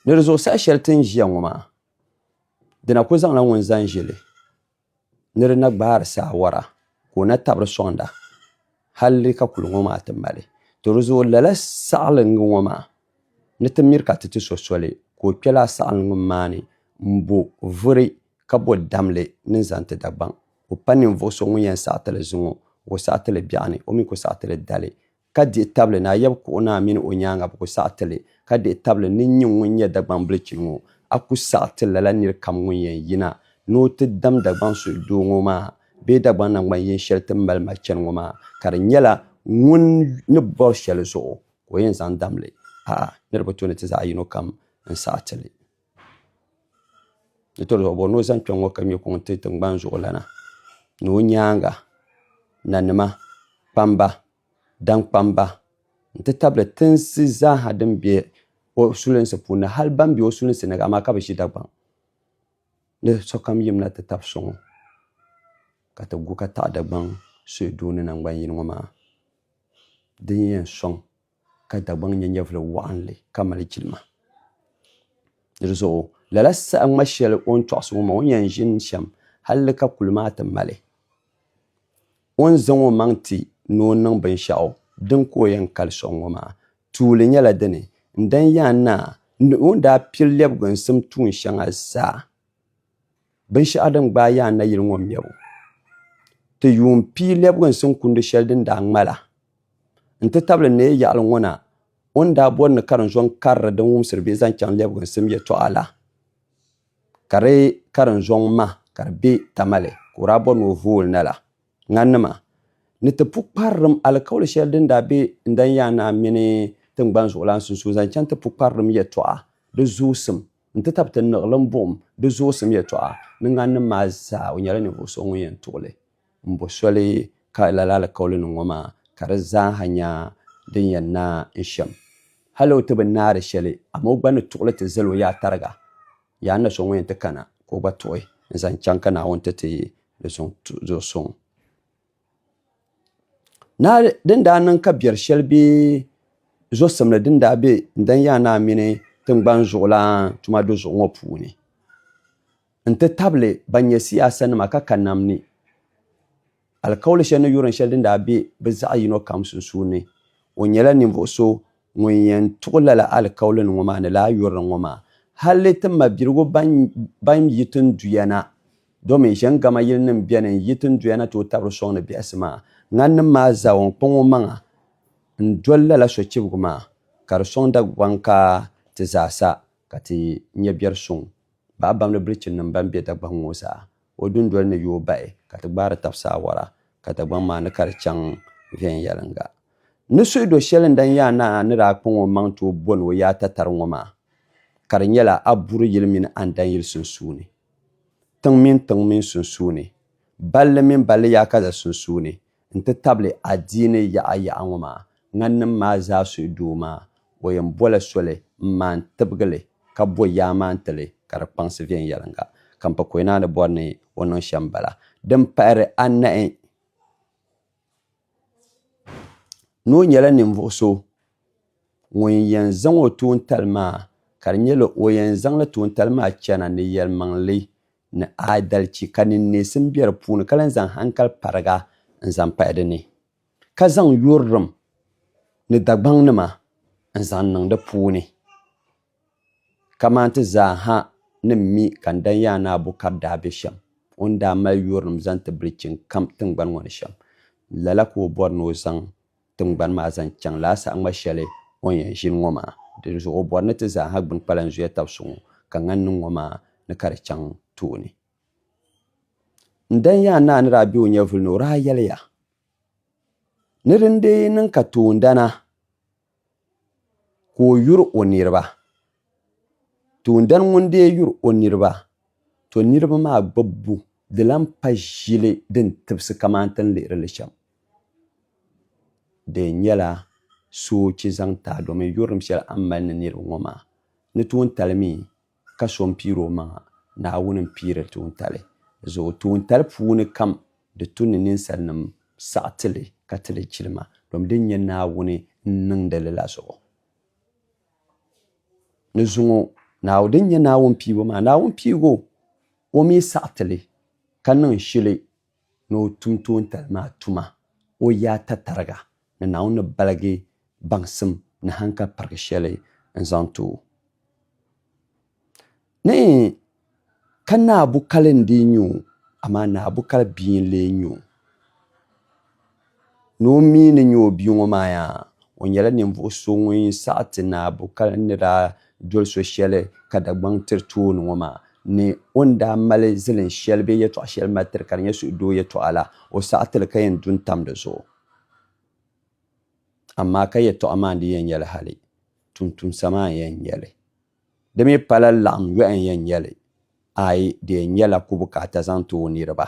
Ni di zuɣusaa shɛli ti ni ʒiya ŋɔ maa di na ku zaŋla ŋun zaŋ ʒili ni di na gbaari saawora ka o na tabiri soŋda hal di ka kuli ŋɔ maa ti mali to di zuɣu lala saɣilingi ŋɔ maa ni ti miri ka ti ti so soli ka o kpɛ laa saɣilingi maa ni m-bo vuri ka bo damli ni zaŋ ti Dagbaŋ o pa ninvuɣ so ŋun yɛn saɣiti li zuŋɔ o saɣiti li biɛɣuni o mi ku saɣiti li dali ka dihi tabili ni a yab kuɣu ni a mini o nyaaŋa bi ku saɣi ti li, ka dihi tabili ni n nyin ŋun nyɛ Dagbambilichini ŋɔ, a ku saɣi ti lala nir kam ŋun yɛn yina ni o ti dam Dagbaŋ suhu doo ŋɔ maa bee Dagbaŋ naŋgban yin shɛli ti ni mali ma chani ŋɔ maa, ka di nyɛla ŋun ni bɔri shɛli zuɣu ka o yɛn zaŋ dam li paai niriba tooni ti zaɣ yino kam n-saɣi ti li. Di to zuɣu bɔri ni o zaŋ kpɛŋ ŋɔ ka ŋmɛ kuŋ n-ti tiŋgbani zuɣulana ni o nyaaŋa nanima kpamba daŋkpamba nti tabili tinsi zaaha din be o sulinsi puuni ni hali ban be o sulinsi ni amaa ka bi ʒi Dagbaŋ ni sokam yimina ti tab so ŋɔ ka ti gu ka taɣi Dagbaŋ suhudoo ni naŋgbaniyini ŋɔ maa din yɛn sɔŋ. ka Dagbaŋ nyɛ nyɛvili waɣinli ka mali jilima. Di di zuɣu lala saha ŋma shɛli o ni tɔɣisi ŋɔ maa o ni yɛn ʒini shɛm halli ka kuli maa ti mali o ni zaŋ o maŋ ti ni o niŋ binshɛɣu din ka o yɛn kali sɔŋ ŋɔ maa tuuli nyɛla dini n-dan yaan naai ni o ni daa piri lɛbigu n-sim tuun shɛŋa zaa. Binshɛɣu din gbaai yaai nayili ŋɔ mɛbu, ti yuun pii lɛbiginsim kundi shɛli din daa ŋma la, n-ti tabili n ni yɛl yaɣili ŋɔ na o ni daa bɔri ni karinzo n-kariri din wumsiri bee zaŋ chaŋ lɛbiginsim yɛtɔɣa la, ka di karinzoŋ ma ka di be Tamale ka o daa bɔri ni o voo li na la, ŋanima ni ti pukparilim alikauli shɛli din daa be Ndanyana mini tiŋgbani zuɣulan sunsuuni zaŋ chaŋ ti pukparilim yɛtɔɣa, di zoosim. n ti tab ti niɣilim buɣim di zuɣusim yɛtɔɣa ni ŋaninnim maa zaa, o nyɛla ninvuɣ so ŋun yɛn tuɣi li. M bo soli ka lala alikauliniŋ ŋɔ maa, ka di zaaha nya din yɛn naai n shɛm. Hal o ti bi naai di shɛli, amaa o gba ni tuɣi li ti zal o yaa tariga. Yaa n na so ŋun yɛn ti kana ka o gba tuɣi n-zaŋ chaŋ ka Naawuni ti ti di zuɣusuŋ. Naa din daa niŋ ka biɛri shɛli bɛ zosimli din daa be Ndanyaan Naa mini tiŋgbani zuɣulan tuma du zuɣu ŋɔ puuni n-ti tabili ban nyɛ siyaasanima ka ka nam ni alikauli shɛli ni yurin shɛli din daa be bɛ zaɣ yino kam sunsuuni. O nyɛla ninvuɣ so ŋun yɛn tuɣi lala alikaulinima ŋɔ maa ni lala yurin ŋɔ maa hal ti mabiligu ban yi ti n duya na. Domi ʒiɛŋgama yilinim beni n-yi tinduya na tooi tabiri sɔŋ ni biɛhisi maa. Ŋaninim maa zaa o ni kpaŋ o maŋa n-doli lala sochibigu maa, ka di sɔŋ Dagbaŋ ka ti zaa sa ka ti nya biɛri suŋ bahi bamdi bilichinnima ban be Dagbaŋ ŋɔ zaa. O dundoli ni yooi bahi ka ti gbaari tab saawara ka Dagbaŋ maa ni ka di chaŋ viɛnyɛliŋga. Ni suhi do shɛli n dan yaa naa ni daa kpaŋ o maŋ tooi boni o yaa tatari ŋɔ maa, ka di nyɛla a buri yili mini a n dan yili sunsuuni. tiŋ mini tiŋ mini sunsuuni, balli mini balli yaakaza sunsuuni n-ti tabili adiini yaɣa yaɣa ŋɔ maa, ŋaninim maa zaa suhi doo maa, o yɛn bɔla soli m-maan tibigi li ka bo yaa maan ti li ka di kpaŋsi viɛnyɛliŋga, ka m-pa Koyinaa ni bɔri ni o niŋ shɛm bala. Din pahiri anahi. ni o nyɛla ninvuɣ so ŋun yɛn zaŋ o tuuntali maa ka di nyɛla o yɛn zaŋla tuuntali maa chana ni yɛlimaŋli ni aadalichi ka niŋneesim be di puuni ka lahi zaŋ haŋkal pariga n-zaŋ pahi di ni ka zaŋ yurilim ni Dagbaŋnima n-zaŋ niŋ di puuni. Kaman ti zaa ha ni mi ka n dan yaa ni Abu ka di daa be shɛm, o ni daa mali yurinim zaŋ ti bilichini kam tiŋgbani ŋɔ ni shɛm, lala ka o bɔri ni o zaŋ tiŋgbani maa zaŋ chaŋ lala saɣiŋma shɛli o ni yɛn ʒini ŋɔ maa. Dinzuɣu o bɔri ni ti zaa ha gbini kpalan zuya tab so ŋɔ, ka ŋan niŋ ŋɔ maa ni ka di chaŋ tooni. N dan yaa naa ni daa be o nyɛvuli ni o daa yɛliya, Ni din dii niŋ ka toondana, ka o yuri o niriba toondana ŋun dee yuri o niriba to niriba maa gbibbu di lan pa ʒili din tibisi kaman ti ni lihiri li shɛm di yɛn nyɛla soochi zaŋ taai domin yurilim shɛli a ni mali ni niriba ŋɔ maa ni toon tali mi ka so m-piiri o maŋa, Naawuni m-piiri tuuntali zuɣu. Tuuntali puuni kam di tu ni ninsalinim saɣi ti li ka ti li jilima, domi di nyɛ Naawuni n-niŋdi li la zuɣu. Ni zuŋɔ Naawuni din nyɛ Naawuni piibu maa, Naawuni piibu o mi saɣi ti li ka niŋ shili ni o tum toontali maa tuma o yaa tatariga ni Naawuni ni baligi baŋsim ni hanka pirigi shɛli n-zaŋ ti o. Ni ka Naa Bukali n-dii nyɛ o, amaa Naa Bukali bia n-lee nyɛ o. Ni o mi ni nya o bia ŋɔ maa yaa, o nyɛla ninvuɣ so ŋun saɣi ti naabu ka ni daa doli so shɛli ka Dagbaŋ tiri tooni ŋɔ maa ni o ni daa mali zilin shɛli bee yɛtɔɣ shɛli mali tiri ka di nyɛ suhudoo yɛtɔɣa la, o saɣi ti li ka yɛn du n-tam di zuɣu. Amaa ka yɛtɔɣa maa n-di yɛn nyɛ li hali, tumtumsa maa n-yɛn nyɛ li. Di mi pala laɣim yɔhi n-yɛn nyɛ li, aai di yɛn nyɛla ku bukaata zaŋ ti o niriba.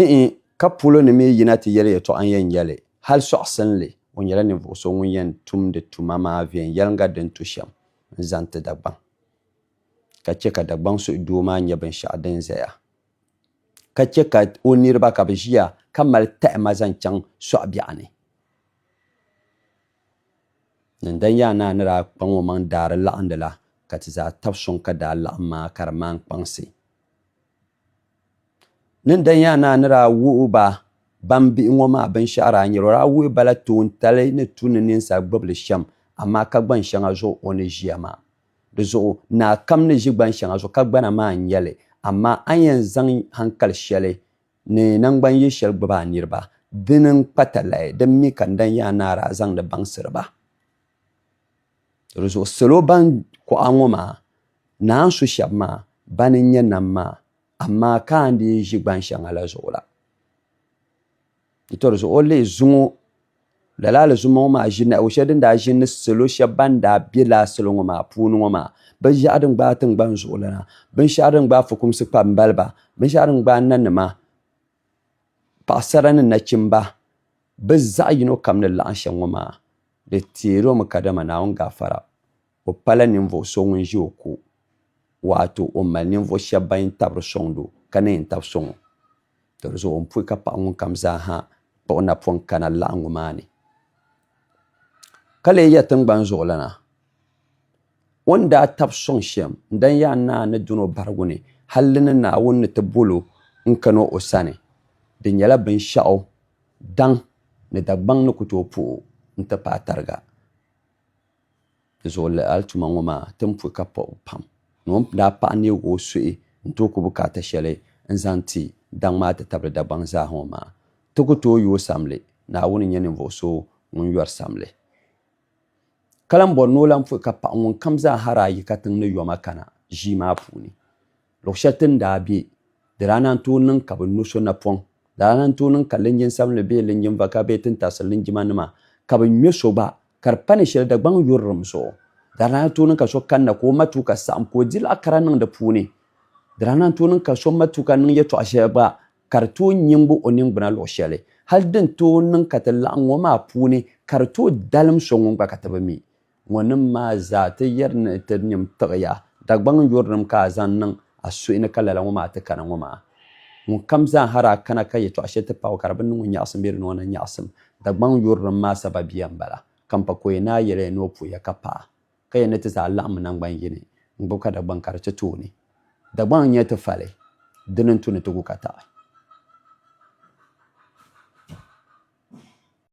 Iin, ka polo ni mi yina ti yɛli yɛtɔɣa n-yɛn yɛli, hal sɔɣisinli, o nyɛla ninvuɣ so ŋun yɛn tumdi tuma maa viɛnyɛliŋga din tu shɛm n-zaŋ ti Dagbaŋ, ka chɛ ka Dagbaŋ suhudoo maa nyɛ binshɛɣu din zaya, ka chɛ ka o niriba ka bɛ ʒiya ka mali tahima zaŋ chaŋ sɔɣibiɛɣu ni. Nandanyaan naa ni daa kpaŋ omaŋ daari laɣindi la, ka ti zaa tab suŋ ka daa laɣim maa ka di maan kpaŋsi Ni n daa nyɛ a ni a ni daa wuhi ba baŋ bihi ŋɔ maa binshɛɣu daa nyɛla o daa wuhi ba la toontali ni tu ni ninsal gbibili shɛm, amaa ka gbaŋ shɛŋa zuɣu o ni ʒiya maa. Di zuɣu naa kam ni ʒi gbaŋ shɛŋa zuɣu ka gbana maa n-nyɛ li, amaa a ni yɛn zaŋ haŋkali shɛli ni naŋgban yili shɛli gbibi a niriba, dini n-kpa talahi, din mi ka n daa nyɛ a ni a daa zaŋdi baŋsiri ba. Di zuɣu salo ban kuɣa ŋɔ maa naan su shɛba maa bani n-nyɛ nam maa, amaa ka a ni dii ʒi gban shɛŋa la zuɣu la. N tɔri zuɣu o lihi zuŋɔ, lala Alizuma ŋɔ maa ʒi nahigu shɛli din daa ʒini ni salo shɛba ban daa be lala salo ŋɔ maa puuni ŋɔ maa, binshɛɣu din gbaai tiŋgbani zuɣu la, binshɛɣu din gbaai fukumsi kpa m-mali ba, binshɛɣu din gbaai nanima, paɣisara ni nachimba, bɛ zaɣ yino kam ni laɣim shɛm ŋɔ maa. Di teer o mi kadama Naawuni gaafara, o pala ninvuɣ so ŋun ʒi o ko, waato o ni mali ninvuɣ shɛb bɛn yɛn tabiri sɔŋdi o, ka ni yɛn tab sɔŋ o. Tɔrizuɣu n pui ka paɣ ŋunkam zaaha kpuɣ o napɔŋ kana laɣiŋgu maa ni, ka leei ya tiŋgbani zuɣulana. O ni daa tab sɔŋ shɛm n-dan yaai naa ni dun o barigu ni, hal di ni Naawuni ni ti bol o n-kan o o sani, di nyɛla binshɛɣu daŋ ni Dagbaŋ ni ku tooi puhi o nti paai tariga. Dinzuɣu lala alituma ŋɔ maa tin pui ka pɔbi pam, ni o ni daa paɣi neeg o suhi n-tooi ku bukaata shɛli n-zaŋ ti daŋ maa ti tabili Dagbaŋ zaa ŋɔ maa. Ti ku tooi yooi samli, Naawuni n-nyɛ ninvuɣ so ŋun yɔri samli. Ka lan bɔri ni o lan pɔi ka paɣ ŋunkam zaa hara ayi katiŋ ni yoma kana ʒii maa puuni. Luɣ shɛli ti ni daa be, di daa naan tooi niŋ ka bɛ no so napɔŋ. Di daa naan tooi niŋ ka linjin sabinli bee linjin vaka bee tintarisi linjimanima ka bɛ ŋme so gba ka di pa ni shɛli Dagbaŋ yurilim zuɣu. Di daa naan tooi niŋ ka so kanna ka o matuuka saɣim ka o di laɣ kara niŋ di puuni. Di daa naan tooi niŋ ka so matuuka niŋ yɛtɔɣ shɛli gba ka di tooi nyingbi o ningbuna luɣ shɛli, hal din tooi niŋ ka ti laɣim ŋɔ maa puuni ka di tooi dalim so ŋun gba ka ti bi mi. Ŋɔnim maa zaa ti yɛri ni ti nyim tiɣiya, Dagbaŋ yurilim ka a zaŋ niŋ a suhi ni ka lala ŋɔ maa ti kana ŋɔ maa. Ŋunkam zaa ha daa kana ka yɛtɔɣ shɛli ti paɣi o ka di bi niŋ o nyaɣisim bee di niŋ o ni nyaɣisim Dagbaŋ yurilim maa sababiya m-bala, ka m pa ka o yɛn naai yɛli ya ni o puhiya ka paɣa ka yɛn ni ti zaa laɣim naŋgban yini n-gbubi ka Dagbaŋ kari ti tooni. Dagbaŋ n-nyɛ ti fali, di ni n-tu ni ti gu ka taɣi.